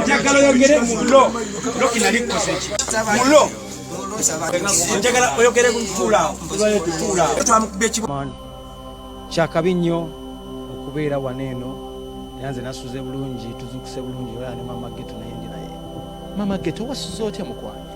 njagala oyogere mulo lokinalikozeeki mulo njagala oyogere kutuulaawotuulawo kyakabi nnyo okubeera wano eno era nze nasuze bulungi tuzukuse bulungi olaa ne mama geto naye ndi naye mama geto wasuze otya mukwano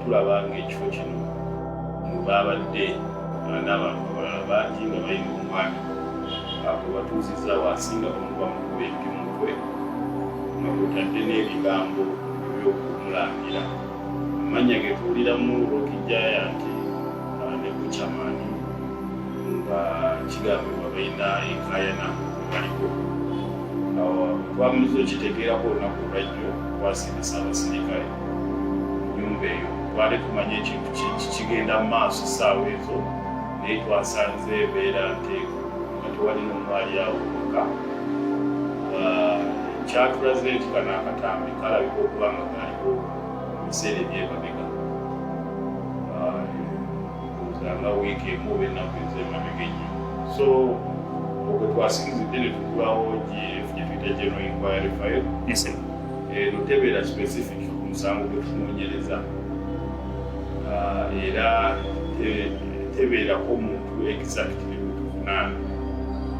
tulaba ng'ekifo kino mu baabadde n'abantu abalala bangi nga balina omwana abo batuuzizza wansi nga bamubamukuba ejju mutwe nga kutadde n'ebigambo eby'okumulangira amannya ge tuwuliramu olwokijjaya nti ah, ne kucamani nga kigambibwa balina enkayana baliko awo twamuliza okitegeerako olunaku olwajjo twasindisa abasirikale nyumba eyo twali tumanye ekintu kigenda mu maaso essaawa ezo naye twasanze ebeera nteeku nga tewali nomwali awo oka ah, kyatulaze nti kana akatambi kalabika okuba nga kaliko ebiseera ebyemabega ah, nga wiiki emu oba ennaku ezemabega enyo so okwe twasinzidde ne tugulawo gye tuyita general inquiry file eno tebeera specific ku musango gwe tunoonyereza ah, era tebeerako muntu exactly gwetuvunaana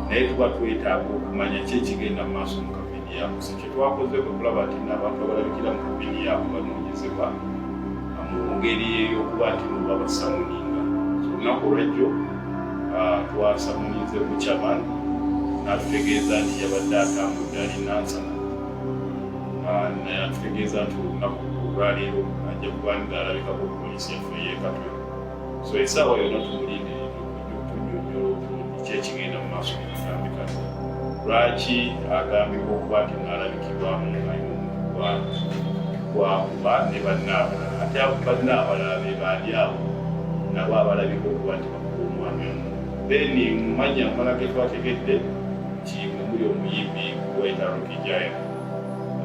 naye tuba twetaaga okumanya ki ekigenda mu maaso mu kampeni yaako si kye twakoze kwe kulaba nti n'abantu abalabikira mu kampeni yaako banoonyezebwa ah, mu ngeri ey'okuba nti no babasamuninga so olunaku olwajjo ah, twasamuninze ku chaman n'atutegeeza nti yabadde atambudde alina nsana ah, naye atutegeeza nti olunaku olwaleero ajja kuba nga alabikako poliisi yaffe eyekatwe so esaawa yonna tumulinde okunyonyola obulungi kyekigenda mu maaso mukatambi kano lwaki agambibwa okuba nti naalabikibwamu ali mumukwakuba ne bannaabalala ate abo bannaabalala be baali abo nabo abalabika okuba nti bakuba omwami omu then mumanya amala getwategedde tiimu omuli omuyimbi wena rukijaya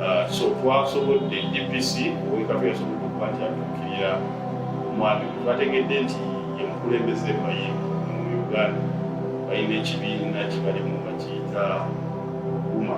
uh, so twasobodde dpc owekatu yasobodde okuba nti atuukirira omwami twategedde nti yemukulembeze mayimbi mu uganda balina ekibiina kibalimu bakiyita guma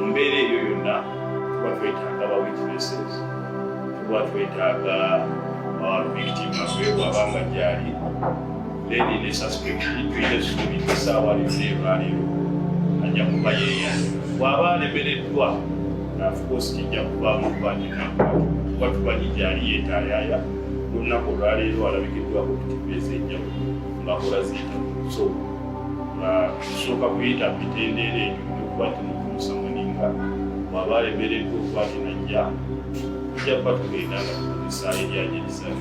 mumbeera eyo yonna tuba twetaaga ba witnesses tuba twetaaga uh, victim afeewaba nga gyali leni ne suspect tuyina essuubi esaawa lyonna erwaleero ajja kuba yeeya bw'aba alemereddwa of course kijja kuvaamu kuba ninakuba tuba tumanyi gyali yeetaayaaya olunaku olwaleero alabikiddwako ku tivi ez'enjawulo ng'akola ziita so nga tusooka kuyita mitendeera egyo okuba nti mukuusa muninga bw'aba alemereddwa okuba nti najja tujja kuba tugenda nga tukozesa ebyanyirizayo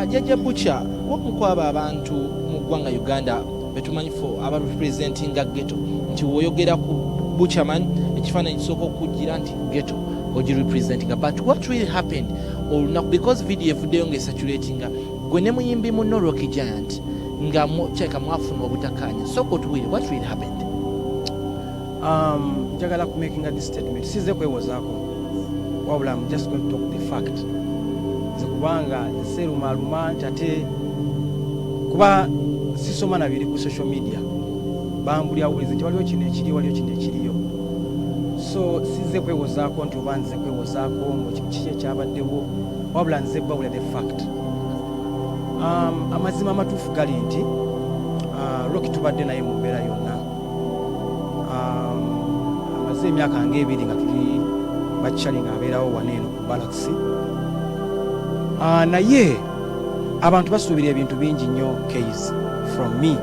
ajaja buca wamu kwabo abantu mu ggwanga uganda betumanyi fo aba representinga geto nti woyogera ku buchaman ekifaananyi kisooka okujjira nti geto ogi representinga but what really happened olunaku because video evuddeyo nga esaturatinga gwe ne muyimbi muno rocky giant nga kyeka mwafuna obutakaanya sooka otuwire what really happened Um, njagala ku making this statement size kwewozaako wabula am just going to talk the fact nze kubanga nserumaaluma nti ate kuba sisoma na biri ku social media bambulya bulizi nti waliwo kino ekiri waliwo kino ekiriyo so size kwewozaako nti oba nze kwewozaako kiki ekyabaddewo wabula nze babula the fact um, amazima amatuufu gali nti uh, roki tubadde naye mu mbeera yonna amaze emyaka nga ebiri nga tuli bakyali ng'abeerawo wano eno ku balakisi ah, naye abantu basuubira ebintu bingi nnyo kays from me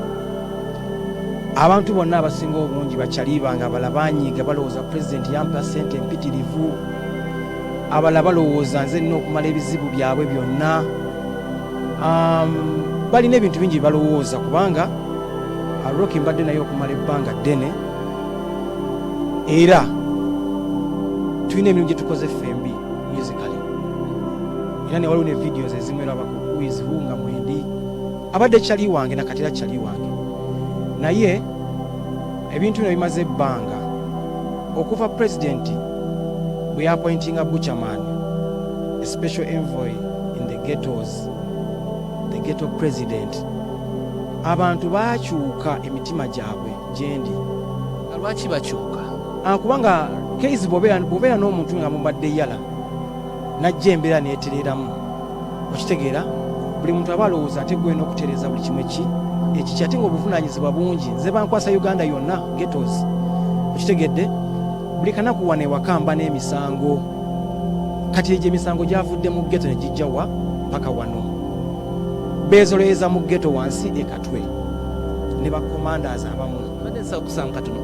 abantu bonna abasinga obungi bakyaliba nga abala banyiiga balowooza pulezidenti yampa sente empitirivu abala balowooza nze nina okumala ebizibu byabwe byonna um, balina ebintu bingi bye balowooza kubanga Rocky mbadde naye okumala ebbanga ddene era tulina emirimu gye tukoze ffembi musically era ne waliwo ne videos ezimu era abakuizibu nga mwendi abadde kyali wange nakati era kyali wange naye ebintu bino bimaze ebbanga okuva pulezidenti bwe yapointinga buchaman a special envoy in the ghettos the ghetto president abantu baakyuka emitima gyabwe gyendi nga lwaki bakyuka Ah, kubanga keizi bwobeera bwobeera n'omuntu nga mubadde yala najja embeera neetereeramu okitegeera buli muntu aba alowooza ate gwena okutereeza buli kimu eki ekiki ate nga obuvunaanyizibwa bungi nze bankwasa uganda yonna getos okitegedde buli kanaku wano ewaka mba n'emisango kati egyo emisango gyavudde mu geto ne gijja wa paka wano bezoloyeza mu geto wansi ekatwe ne bakomandas abamu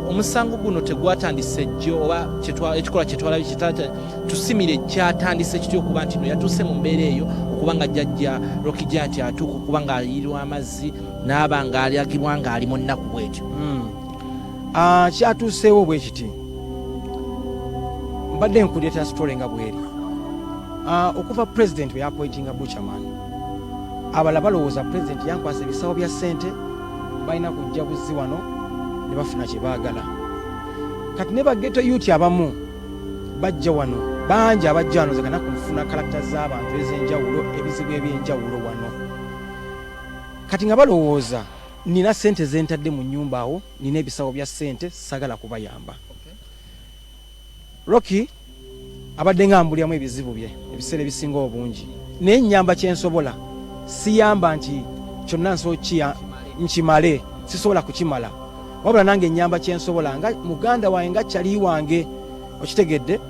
omusango guno tegwatandise jjo oba ekikolwa kyetwalabi kitata tusimire kyatandise kitya okuba nti no yatuuse mu mbeera eyo okuba nga jajja rokija nti atuuka okuba nga ayirirwa amazzi naaba nga alyagibwa nga ali mu nnaku bwetyo hmm. ah, kyatuuseewo bwekiti mbadde nkuleeta sitole nga bweri Ah, okuva president bwe yapointinga buchaman abala balowooza president yankwasa ebisawo bya sente balina kujja buzzi wano ne bafuna kye baagala kati ne bageto yuti abamu bajja wano bangi abajja wano zekana ku nfuna kalakita z'abantu ez'enjawulo ebizibu eby'enjawulo wano kati nga balowooza nina sente zentadde mu nyumba awo nina ebisawo bya sente sagala kubayamba Rocky abadde nga ambulyamu ebizibu bye ebiseera ebisinga obungi naye nyamba kyensobola siyamba nti kyonna nsokiya nkimale sisobola kukimala wabula nange nyamba kyensobola nga muganda wange nga kyali wange okitegedde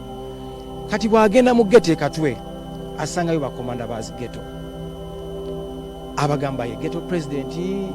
kati bwagenda mu geto ekatwe asangayo bakomanda bazigeto abagambaye geto pulezidenti